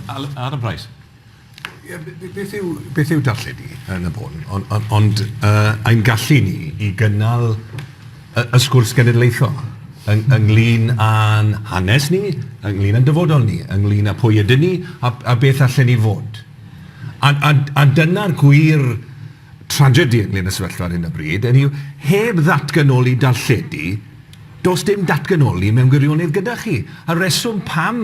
Alan, Adam Price. Ie, b- b- beth yw, beth yw darlledu yn y bôn? Ond, ond, ond uh, ein gallu ni i gynnal y, y sgwrs genedlaethol yng, ynglyn â'n hanes ni, ynglyn â'n dyfodol ni, ynglyn â pwy ydyn ni a, a beth allan ni fod. A, a, a dyna'r gwir tragedi ynglŷn â sefyllfa ar hyn o bryd, hynny yw, heb ddatganoli darlledu, does dim datganoli mewn gwirionedd gyda chi. A'r reswm pam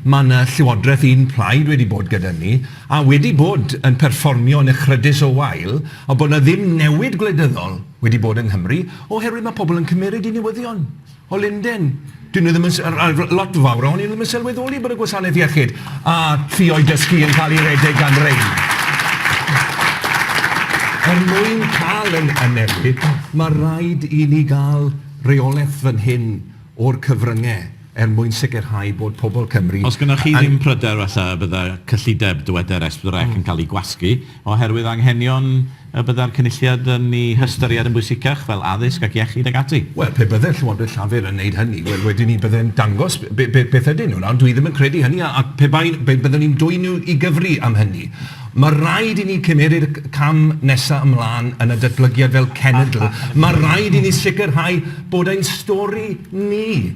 mae yna llywodraeth un plaid wedi bod gyda ni, a wedi bod yn perfformio yn echrydus o wael, a bod yna ddim newid gwleidyddol wedi bod yng Nghymru, oherwydd mae pobl yn cymeryd i newyddion. O Lunden. Dyn nhw ddim yn... a- a- r- lot fawr ohonyn nhw ddim yn sylweddoli bod y gwasanaeth iechyd a ffioedd dysgu yn cael ei redeg gan rein. Er mwyn cael yn y newid, mae rhaid i ni gael reolaeth fan hyn o'r cyfryngau er mwyn sicrhau bod pobl Cymru... Os gynnoch chi ddim pryder falle y byddai cyllideb dyweder S4C yn cael ei gwasgu. Oherwydd anghenion y byddai'r Cynulliad yn eu hystyried yn bwysicach, fel addysg ac iechyd ac ati. Wel, pe bydde'r Llywodraeth Llafur yn wneud hynny, wel, wedyn ni byddai'n dangos be, be, beth ydyn nhw. Nawr, dwi ddim yn credu hynny, a, ac pe bai, be, byddwn ni'n dwyn nhw i gyfri am hynny. Mae rhaid i ni cymeryd y cam nesaf ymlaen yn y datblygiad fel cenedl. Mae rhaid i ni sicrhau bod ein stori ni,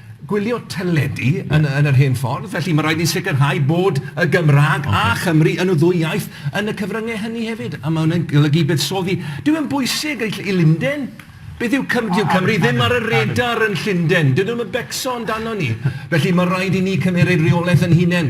gwylio teledu yn y, yn yr hen ffordd, felly mae'n rhaid ni sicrhau bod y Gymraeg okay. a Chymru yn y ddwy iaith yn y cyfryngau hynny hefyd, a mae hwnna'n golygu buddsoddi. Dyw e'n bwysig i Lunden, Beth yw Cymru? Dyw Cymru ddim ar y radar yn Llundain. Dydyn nhw'n becso amdano ni. Felly mae rhaid i ni cymeryd rheolaeth yn hunain.